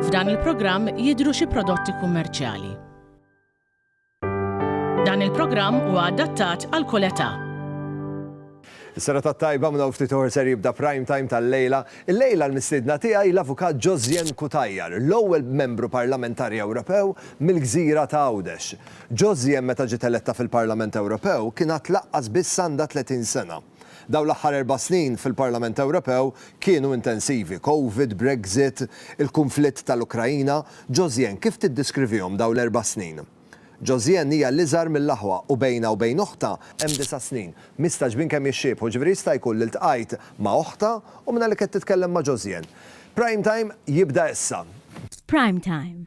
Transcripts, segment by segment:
F'dan il-programm jidhru xi prodotti kummerċjali. Dan il-programm huwa adattat għal kull età. Is-sena tat-tajba minn hawn ftit oħor ser jibda prime time tal-lejla. Il-lejla l-mistiedna tiegħi l-Avukat Josien Cutajar, l-ewwel Membru Parlamentari Ewropew mill-gżira ta' Għawdex. Josie meta ġiet eletta fil-Parlament Ewropew kien għad laqqas biss għandha 30 sena. Dawn l-aħħar erba' snin fil-Parlament Ewropew kienu intensivi, Covid, Brexit, il-kunflitt tal-Ukraina. Josienne, kif tiddiskrivihom dawn l-erba' snin? Josienne hija l-iżgħar mill-aħwa u bejnha u bejn oħtha hemm disa' snin. Mistagħġbin kemm jixxiebħu, ġifieri jista' jkun li ltqajt ma' oħtha u mingħajr li kett titkellem ma' Josienne. Prime Time jibda issa. Prime Time,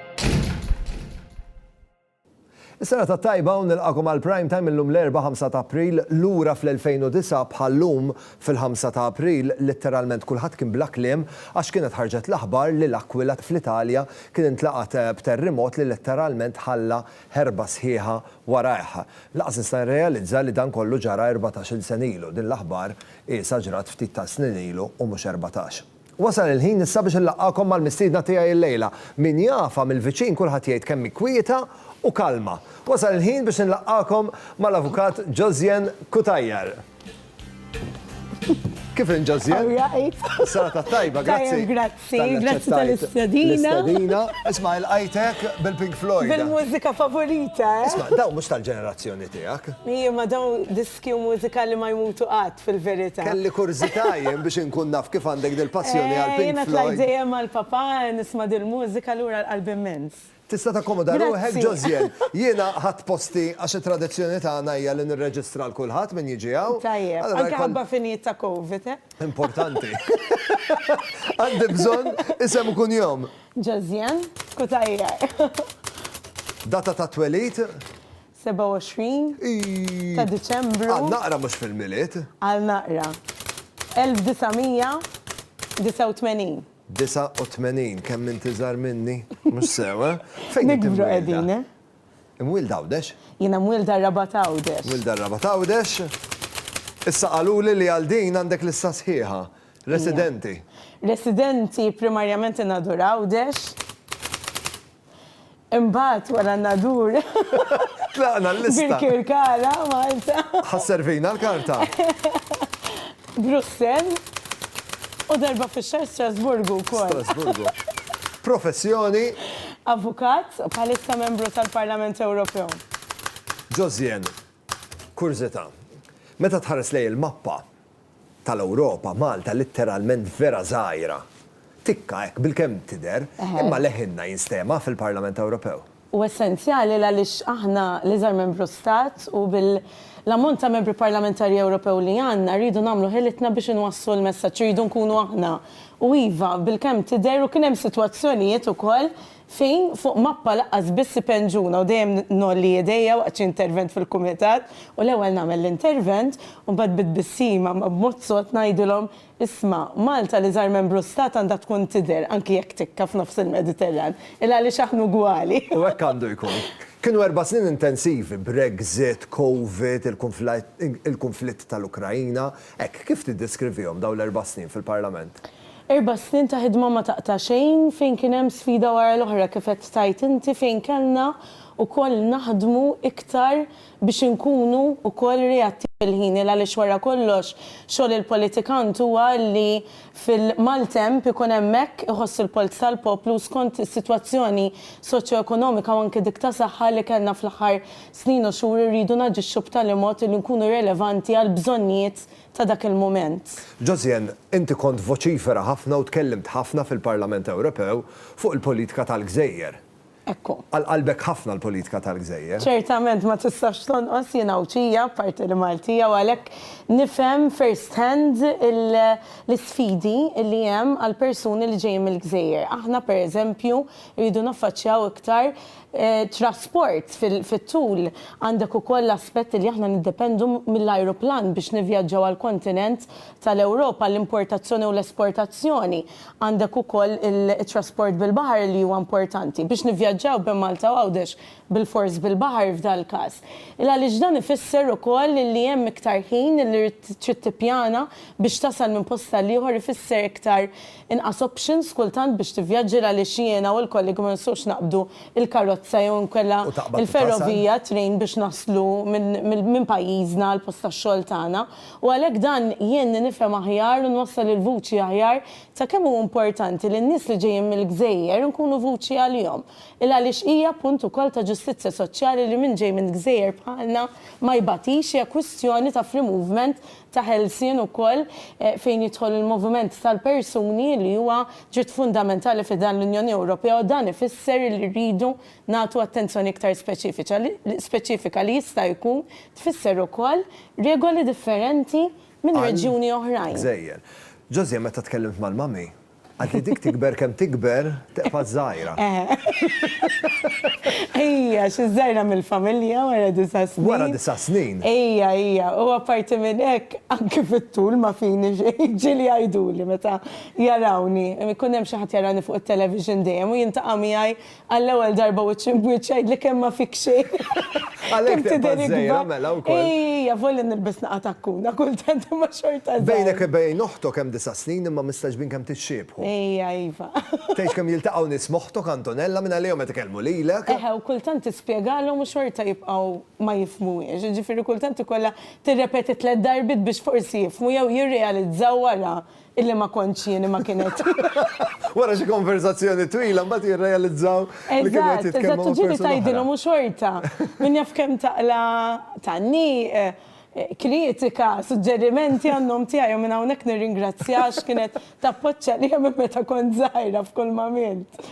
Is-sena tat-tajba u nilqagħkom għal Prime Time illum l-Erbgħa 5 ta' April, lura fl-2009 bħal llum fil-5 ta' April litteralment kulħadd kien bla kliem għax kienet ħarġet l-aħbar li L'Aquila fl-Italja kien intlaqat b'terrimot li letteralment ħalla ħerba sħiħa warajh. Lanqas nista' nirrealizza li dan kollu ġara erbatax-il sen ilu, din l-aħbar qiesha ġrat ftit tas-snin ilu u mhux erbatax. Wasal il-ħin issa biex inlaqqagħkom mal-mistiedna tiegħi llejla. Min jafha mill-viċin kulħadd jgħid kemm hi kwieta u kalma. Wasal il-ħin biex inlaqqagħkom mal-Avukat Josianne Cutajar. Kif inhi Josianne? Alright. Serata t-tajba, grazzi. Tajjeb, grazzi. Talli Grazzi aċċettajt tal-istedina. L-istedina. Isma' ilqajtek bil-Pink Floyd. Bil-mużika favorita, eh? Isma', dawn mhux tal-ġenerazzjoni tiegħek. Ija, ma dawn dis Tkew mużika li ma jmutu qatt, fil-verità. Kelli kurżità jien biex inkun naf kif għandek dil-passjoni għal Pink Floyd. Jiena tlajt dejjem mal-papà nisma' dil-mużika allura l-qalb immens. Tista' takkomoda ruħek ġo żjell. Jiena ħadt posti għax it-tradizzjoni tagħna hija li nirreġistra għal kulħadd min jiġi hawn. Tajjeb. Anke ħabba finijiet ta' Covid, eh? Importanti. Għandi bżonn isem u kunjom. Ġo żjell, kutajjar. Data tat-twelid? 27 ta' Diċembru. Għal naqra mhux fil-Milied. Għal naqra. 1989. 89, kemm int iżgħar minni? Mhux sew, eh? Fejn int imwielda? Nikbru qegħdin, eh? Imwielda Għawdex? Jiena mwielda r-Rabat Għawdex. Mwielda r-Rabat Għawdex. Issa qaluli li għal din għandek lista sħiħa. Residenti. Residenti primarjament in-Nadur Għawdex. Imbagħad wara n-Nadur. Tlaqna l-lista. Birkirkara, Malta. Ħa sservina l-karta. Brussell. U darba fix-xahar Strasburgu wkoll. Strasburgu. Professjoni? Avukat, bħalissa membru tal-Parlament Ewropew. Josiane, kurżità. Meta tħares lejn il-mappa, tal-Ewropa, Malta litteralment vera żgħira. Tikka hekk bilkemm tidher, imma leħinna jinstema' fil-Parlament Ewropew. Hu essenzjali għaliex aħna l-iżgħar membru stat u bil-ammont ta' membri parlamentari Ewropew li għandna rridu nagħmlu ħilitna biex inwasslu l-messaġġ, irridu nkunu aħna. U iva, bilkemm tidher u kien hemm sitwazzjonijiet ukoll Fejn fuq mappa laqqas biss ipenġuna u dejjem ngħolli idejja waqt xi intervent fil-kumitat u l-ewwel nagħmel l-intervent u mbagħad bi tbissima ma b'mod sod ngħidilhom, isma', Malta li żgħar membru stat għandha tkun tidher anki jekk tikka f'nofs il-Mediterran, il għaliex aħna ugwali. U hekk għandu jkun. Kienu erba' snin intensivi, Brexit, Covid, il-kunflitt tal-Ukraina, hekk kif tiddeskrivihom dawn l-erba' snin fil-Parlament? Erba' snin ta' ħidma ma taqta' xejn fejn kien hemm sfida wara l-oħra kif qed tgħid inti fejn kellna wkoll naħdmu iktar biex inkunu wkoll reattivi fil-ħin għaliex wara kollox xogħol il-politikant huwa li fil-maltemp ikun hemmhekk iħoss il-polz tal-poplu u skont is-sitwazzjoni soċjoekonomika u anke dik ta' saħħa li kellna fl-aħħar snin u xhur irridu naġixxu b'tali mod li nkunu relevanti għall-bżonnijiet ta' dak il-mument. Josian, inti kont voċifera ħafna u tkellimt ħafna fil-Parlament Ewropew fuq il-politika tal-gżejjer. Ekku. Għal qalbek ħafna l-politika tal-gżejjer. Ċertament ma tistax tonqos, jien Għawdxija, apparti li Maltija, u għalhekk nifhem first hand l-isfidi li hemm għall-persuni li ġejjin mill-gżejjer. Aħna, pereżempju, irridu naffaċċjaw iktar Trasport, fit-tul għandek ukoll l-aspett li aħna niddependu mill-ajruplan biex nivvjaġġaw għall-kontinent tal-Ewropa, l-importazzjoni u l-esportazzjoni. Għandek ukoll it-trasport bil-baħar li huwa importanti biex nivvjaġġaw bejn Malta u Għawdex bilfors bil-baħar f'dal-każ. Għaliex dan ifisser ukoll li hemm iktar ħin li trid tippjana biex tasal minn post għal ieħor ifisser iktar Inqas options kultant biex tivvjaġġi għaliex jiena u l-kollegi ma nistgħux naqbdu l-karozza jew inkella l-ferrovija, train, biex naslu minn pajjiżna għall-post tax-xogħol tagħna. U għalhekk dan jgħinni nifhem aħjar u nwassal il-vuċi aħjar ta' kemm hu importanti li n-nies li ġejjin mill-gżejjer inkunu vuċi għalihom. Il għaliex hija punt ukoll ta' ġustizzja soċjali li min ġej minn gżejjer bħalna ma jbatix hija kwistjoni ta' free movement ta' ħelsien ukoll fejn jidħol il-moviment tal-persuni li huwa dritt fundamentali fi dan l-Unjoni Ewropea u dan ifisser li rridu nagħtu attenzjoni iktar speċifiċa speċifika li jista' jkun tfisser ukoll regoli differenti minn reġjuni oħrajn. Gżejjer. José, meta tkellimt mal-mummy, Għad li dik tikber kemm tikber, teqfad żgħira. Ejja, xi żgħira mill-familja wara disa' snin. Wara disa' snin. Ejja, ejja. U apparti minn hekk, anke fit-tul ma fini xejn. Ġieli jgħiduli meta jarawni, ikun hemm xi ħadd jarani fuq it-television dejjem u jintaqa' miegħi Għall-ewwel darba wiċċ imb wiċċ għidli kemm ma fik xejn. Għalhekk tibqa' żgħira mela wkoll. Ejja, avolja nilbes naqa' takkuna kultant imma xorta żgħira. Bejnek u bejn oħtok hemm disa' snin imma mistagħġbin kemm tixxiebħu. Ejja, iva. Tgħidx kemm jiltaqgħu nies m'oħtok Antonella minn għalihom qed ikellmu lilek. Eħe, u kultant tispjegalhom u xorta jibqgħu ma jifhmuhiex. Jiġifieri kultant ikollha tirrepeti tliet darbiet biex forsi jifhmu jew jirrealizzaw wara Illi ma kontx jien imma kienet. Wara xi konversazzjoni twila mbagħad jirrealizzaw li kienu qed jitkellmu. Eżatt, eżatt, u ġieli tgħidilhom u xorta. Min jaf kemm taqla' tgħanniq, kritika, suġġerimenti għan-nom tiegħi u minn hawnhekk nirringrazzjaha għax kienet tappoġġ għalija minn meta kont żgħira f'kull m'għamilt.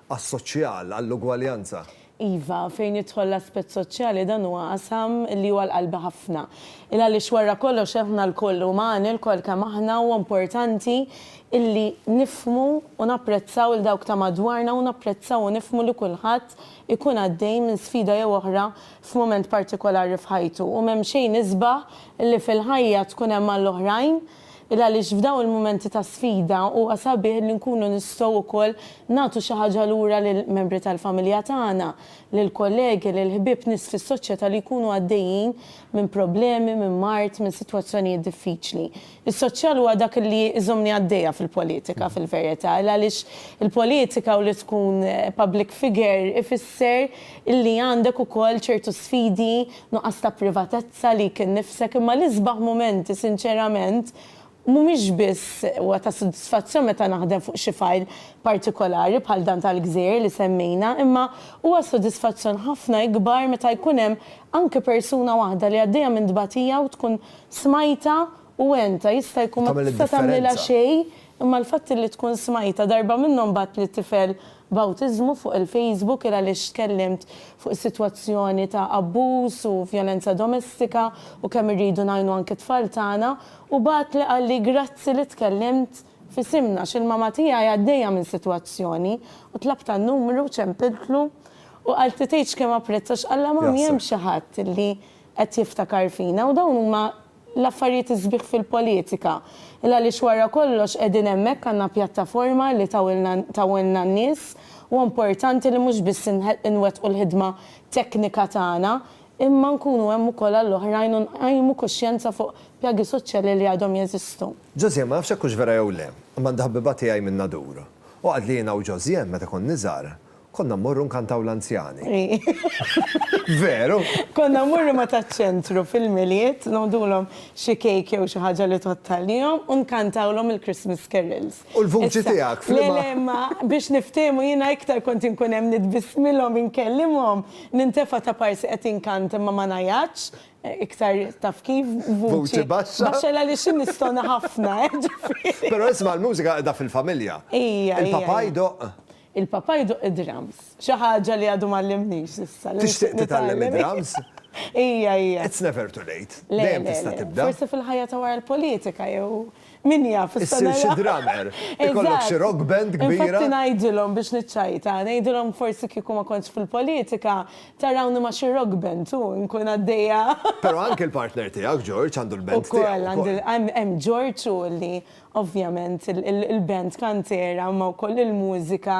Għas-soċjal, għall-ugwaljanza. Iva, fejn jidħol l-aspett soċjali dan huwa qasam li hu għal qalbi ħafna. Il għaliex wara kollox aħna lkoll umani, lkoll kemm aħna huwa importanti illi nifhmu u napprezzaw lil dawk ta' madwarna u napprezzaw u nifhmu li kulħadd ikun għaddej minn sfida jew oħra f'mument partikolari f'ħajtu u m'hemm xejn isbaħ li fil-ħajja tkun hemm għall-oħrajn Il għaliex f'dawn il-mumenti ta' sfida huwa sabiħ li nkunu nistgħu wkoll nagħtu xi ħaġa lura lil membri tal-familja tagħna, lil kollegi, lil ħbieb, nies fis-soċjetà li jkunu għaddejjin minn problemi, minn mard, minn sitwazzjonijiet diffiċli. Is-soċjal huwa dak li jżommni għaddejja fil-politika fil-verità. Il għaliex il-politika u li tkun public figure ifisser li għandek ukoll ċertu sfidi nuqqas ta' privatezza li jkun nifsek imma l-isbaħ mumenti sinċerament mhumiex biss huwa ta' sodisfazzjon meta naħdem fuq xi fajl partikolari bħal dan tal-gżejjer li semmejna imma huwa sodisfazzjon ħafna ikbar meta jkun hemm anke persuna waħda li għaddejja minn tbatija u tkun smajtha u għentha jista' jkun ma tista' tagħmlilha xejn imma l-fatt li tkun smajtha darba minnhom bagħatli tifel bawtiżmu fuq il-Facebook il għaliex tkellimt fuq is-sitwazzjoni ta' abbuż u vjolenza domestika u kemm irridu ngħinu anki t-tfal tagħna u bagħatli qalli grazzi li tkellimt f'isimna għax il-mama tiegħi għaddejja minn sitwazzjoni u tlabtha n-numru u ċempiltlu u qaltli tgħidx kemm apprezza x'qallha mommy hemm xi ħadd li qed jiftakar fina u dawn huma l-affarijiet is-sbieħ fil-politika. Il għaliex wara kollox qegħdin hemmhekk għandna pjattaforma li tawilna tawilna n-nies u importanti li mhux biss inwettqu l-ħidma teknika tagħna imma nkunu hemm ukoll għall-oħrajn u nqajmu kuxjenza fuq pjagi soċjali li għadhom jeżistu. Josien, Ma nafx jekk hux vera jew le, imma għandi ħabbiba tiegħi min-Nadur. Hu għad li jiena u Josien meta konni żgħar, Konna mmorru nkantaw l-anzjani. Veru? Konna mmorru ma' taċ-ċentru fil-Milied, ngħodulhom xi cake jew xi ħaġa li tgħodd għalihom u nkantawlhom il-Christmas carols. U l-vuċi tiegħek f'liema? Le, le, imma biex niftiehmu jiena iktar kont inkun hemm nitbissmilhom, inkellimhom, nintefa' ta' parsi qed inkanta imma ma ngħajatx, iktar taf kif, vuċi baxxa. Baxxa għaliex innistona ħafna, jiġifieri. Però isma' l-mużika qiegħda fil-familja. Hija, hija. Il-papà jdoqq? Il-Papa jdoqq id-drums. Xi ħaġa li għadu m'għallimnix s'issa. Tixtieq titgħallem id-drums? Ija, ija. It's never too late. Dejjem tista' tibda. Le, le, le. Forsi fil-ħajja ta' wara l-politika jew min jaf. Issir xi drummer. Ikollok xi rock band kbira. Infatti ngħidilhom biex niċċajta, ngħidilhom forsi kieku ma kontx fil-politika tarawni ma' xi rock band u nkun għaddejja. Però anke l-partner tiegħek George għandu l-band tiegħu wkoll. Ukoll, għandi hemm George u li Ovvjament il-band kantiera imma wkoll il-mużika,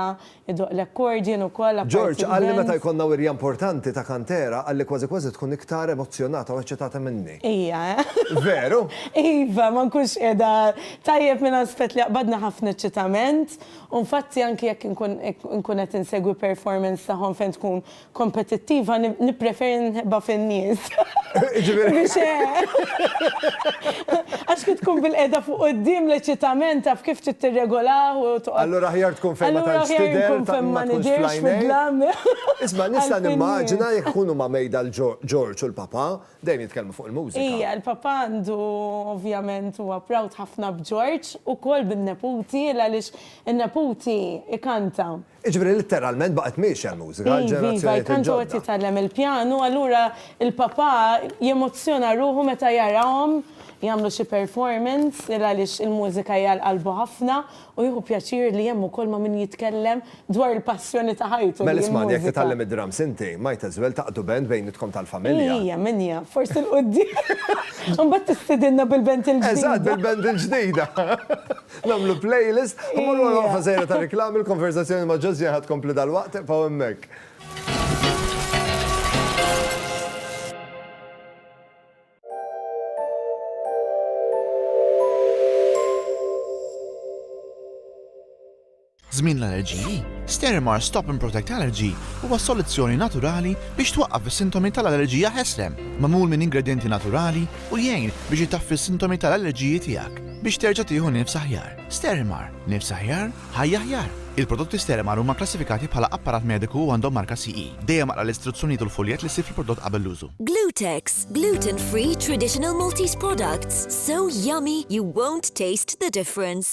idoqq l-accordion ukoll apparti l-band. George qalli meta jkollna wirja importanti ta' kantiera qalli kważi kważi tkun iktar emozzjonata u eċċitata minni. Ija eh? Veru? Iva, ma nkunx qiegħda tajjeb minn aspett li jaqbadni ħafna eċċitament u nfatti anki jekk inkun qed insegwi performance tagħhom fejn tkun kompetittiva nippreferi nħebbha fin-nies. Biex għax kif tkun bil-qiegħda fuq quddiem l-eċitament taf kif trid tirregolah u toqgħod. Allura aħjar tkun fejn ma tantx tidher ta' ma nidhirx fid-dlam. Isma' nista' nimmaġina jekk ikun huma mejda l-Ġorġ u l-Papà dejjem jitkellmu fuq il-mużika. Ija, l-Papà għandu ovvjament huwa proud ħafna b'Ġorġ, ukoll bin-neputi għaliex in-neputi ikanta. Jiġifieri litteralment baqgħet miexja l-mużika għal ġenerazzjonijiet il-ġodda. Iva, iva, tant hu qed jitgħallem il-pjanu, allura l-papà jemozzjona ruħu meta jarahom jagħmlu xi performance il għaliex il-mużika hi għal qalbu ħafna u jieħu pjaċir li hemm ukoll ma' min jitkellem dwar il-passjoni ta' ħajtu li hi l-mużika. Mela ismagħni jekk titgħallem id-drums inti, might as well taqdu band bejnietkom tal-familja. Ija, min jaf, forsi 'l quddiem. Imbagħad tistidinna bil-band il-ġdida. Eżatt, bil-band il-ġdida. Nagħmlu playlist, ħammur wara waqfa sejra ta' reklami l-konversazzjoni ma' Ġożjan ħad tkompli dal-waqt pa' hemmhekk. Żmien l-allerġiji, Sterimar Stop and Protect Allergy huwa soluzzjoni naturali biex twaqqaf is-sintomi tal-allerġija ħesrem, magħmul minn ingredjenti naturali u jgħin biex itaffi s-sintomi tal-allerġiji tiegħek biex terġa' tieħu nifs aħjar. Sterimar, nifs aħjar, ħajja aħjar! Il-prodotti Sterimar huma kklassifikati bħala apparat mediku u għandhom marka CE. Dejjem aqra l-istruzzjonijiet u l-fuljett li ssib fil-prodott qabel l-użu. Glutex, gluten-free traditional Maltese products, so yummy you won't taste the difference!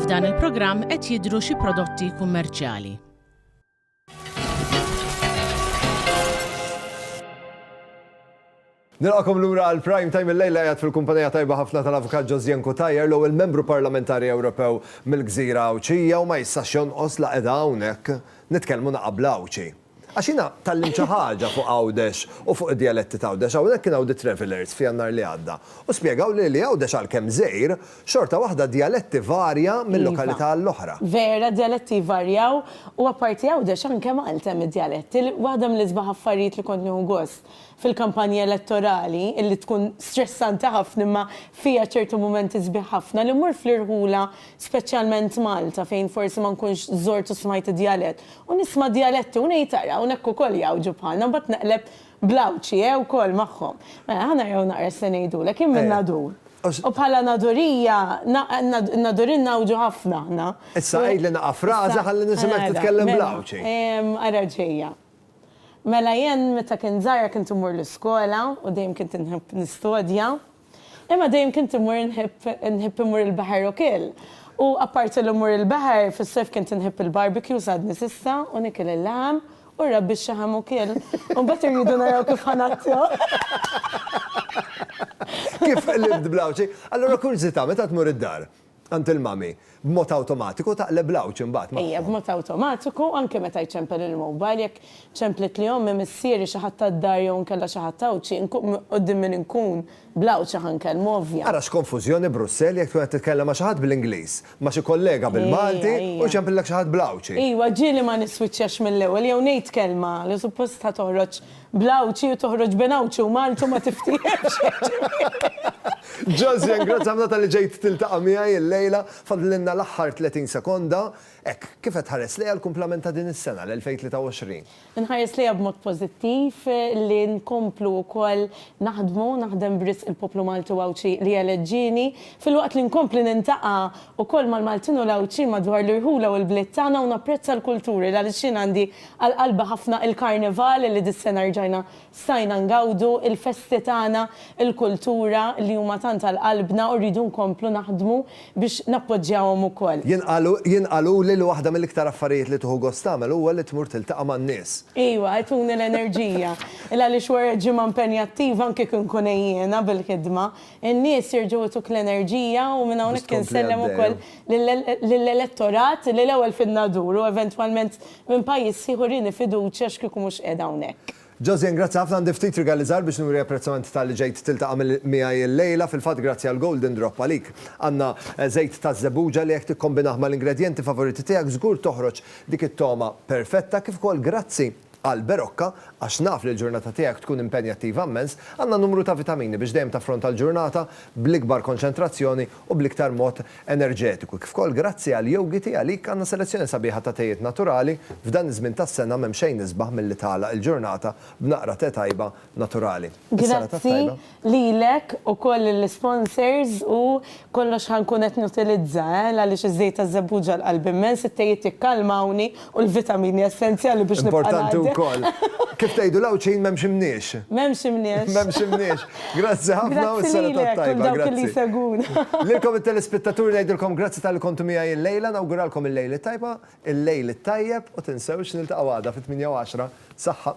F'dan il-programm qed jidhru xi prodotti kummerċjali. Nilqakom lura għal prime time il-lejla jgħat fil-kumpanija tajba ħafna tal-avukat Josien Kutajer l il membru parlamentari Ewropew mill-gżira Għawċija u ma jissax jonqos la edha hawnhekk nitkellmu naqabla Għawċi. Għax jiena tgħallimt xi ħaġa fuq Għawdex u fuq id-djaletti t'Għawdex. Hawnhekk kien hawn The Travellers f'Jannar li għadda u spjegawli li Għawdex għalkemm żgħir, xorta waħda d-djaletti varja minn lokalità għall-oħra. Iva, vera, d-djaletti jvarjaw u apparti Għawdex anke Malta hemm id-djaletti. Waħda mill-isbaħ affarijiet li kont nieħu gost fil-kampanja elettorali, illi tkun stressanti ħafna imma fiha ċertu mumenti sbieħ ħafna, li mmur fl-irħula speċjalment Malta fejn forsi ma nkunx żort u smajt id-djalett U nisma' djaletti u ngħid ara hawn hekk ukoll jgħawġu bħalna u mbagħad neqleb bl-Għawdxi eh ukoll magħhom. Mela ħa naraw naqra x'se ngħidulek, jien minn Nadur. U bħala Nadurija, n-Nadurin ngħawġu ħafna aħna. Issa għidli naqra fraża ħalli nisimgħek titkellem bl-Għawdxi. Ara ġejja. Mela jien meta kint żgħira kint immur l-iskola u dejjem kint inħobb nistudja. Imma dejjem kint immur nħibb nħibb immur il-baħar ukiel. U apparti li mmur il-baħar, fis-sajf kint inħibb il-barbecues għadni s'issa u nikil il-laħam u r-rabbi x-xaħam ukiel. U mbagħad irridu naraw kif ħa nazzjo. Kif qlibt bl-Għawdxi. Allura kurżità, meta tmur id-dar, għand il-mummy, b'mod awtomatiku taqleb l-għawġ imbagħad magħhom. Ejja, b'mod awtomatiku, anke meta jċempel il-mobile, jekk ċemplitli ommi, missieri, xi ħadd tad-dar jew inkella xi ħadd Għawdxi, nkun, quddiem min inkun, bl-Għawdxi ħa nkellmu, ovvja. Ara x'konfużjoni Brussell jekk tkun qed titkellem ma' xi ħadd bl-Ingliż, ma' xi kollega bil-Malti u jċempillek xi ħadd bl-Għawdxi. Ejwa, ġieli ma niswiċċjax mill-ewwel jew ngħid kelma li suppost ħa toħroġ Bl-Għawdxi u toħroġ bejn Għawdxi u Malta u ma tiftiehemx jiġifieri. Josian, grazzi ħafna talli ġejt tiltaqa' miegħi l-lejla. Fadlilna l-aħħar 30 sekonda. Hekk, kif qed tħares lejha l-kumplament ta' din is-sena, l-2023? Inħares lejha b'mod pożittiv li nkomplu wkoll naħdmu, naħdem b'risq il-poplu Malti u Għawdxi li eleġġieni, filwaqt li nkompli nintaqa' wkoll mal-Maltin u l-Għawdxin madwar l-irħula u l-bliet tagħna u napprezza l-kulturi l għaliex jien għandi Għal qalbi ħafna il-Karnival li dis-sena rġajna stajna ngawdu, il-festi tagħna, il-kultura li huma tant għal qalbna u rridu nkomplu naħdmu biex nappoġġjawhom ukoll. Jien qaluli li waħda mill-iktar affarijiet li tieħu gost tagħmel huwa li tmur tiltaqa' man-nies. Iwa, ituni l-enerġija. Il għaliex wara ġimgħa impenjattiva anke kieku nkun għejjiena bil-ħidma, in-nies jerġgħu jtuk l-enerġija u minn hawnhekk insellem ukoll lill-elettorat li l-ewwel fidna duru eventwalment Minn pajjiż ħieħ urieni fiduċja x'kieku mhux qiegħed hawnhekk. Josien, grazzi ħafna, għandi ftit rigali żgħar biex nuri apprezzament talli ġejt tiltaqa' miegħi illejla. Fil-fatt grazzi għal Golden Drop għalik għandna żejt taż-żebbuġa li jekk tikkombinah mal-ingredjenti favoriti tiegħek żgur toħroġ dik it-togħma perfetta. Kif ukoll grazzi għal Berocca għax naf li l-ġurnata tiegħek tkun impenjattiva immens. Għandna numru ta' vitamini biex dejjem taffronta l-ġurnata bl-ikbar konċentrazzjoni u bl-iktar mod enerġetiku, kif ukoll grazzi għal Yogiti għalik għandna selezzjoni sabiħa ta' tejiet naturali f'dan iż-żmien tas-sena m'hemm xejn isbaħ milli tagħlaq il-ġurnata b'naqra te tajba naturali. Is-sena tat-tajba. Grazzi lilek ukoll lill-isponsors u kollox ħa nkun qed nutilizza eh, l għaliex iż-żejt taż-żebbuġa għal qalbi mmens, it-tejiet jikkalmawni U l-vitamini essenzjali biex nibqa' ngħaddi. Importanti wkoll. Kif tgħidu l-Għawdxin m'hemmx imniex. M'hemmx imniex. M'hemmx imniex. Grazzi ħafna u s-sena tat-tajba. Grazzi lilek u lil dawk li jsegwuna. Lilkom it-telespettaturi ngħidilkom grazzi talli kontu miegħi illejla, nawguralkom il-lejl it-tajba, il-lejl it-tajjeb u tinsewx niltaqgħu għada fit-tmienja u għaxra. Saħħa.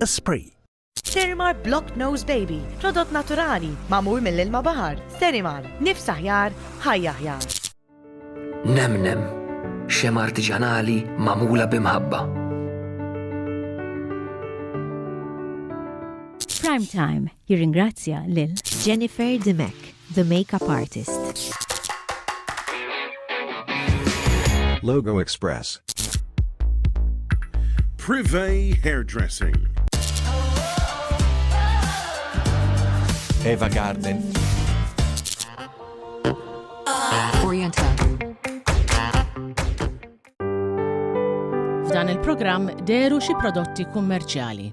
Esprit. Sterimar Block Nose Baby, prodott naturali, mamur mill-ilma bahar. Sterimar, nifs aħjar, ħajja aħjar. Nemnem, xem artiġanali mamula bimħabba. Prime Time Jirringrazzja lil. Jennifer Dimech, the makeup artist. Logo Express. Privé Hairdressing. Eva Garden. Oriental. F'dan il-programm deru xi prodotti kummerċjali.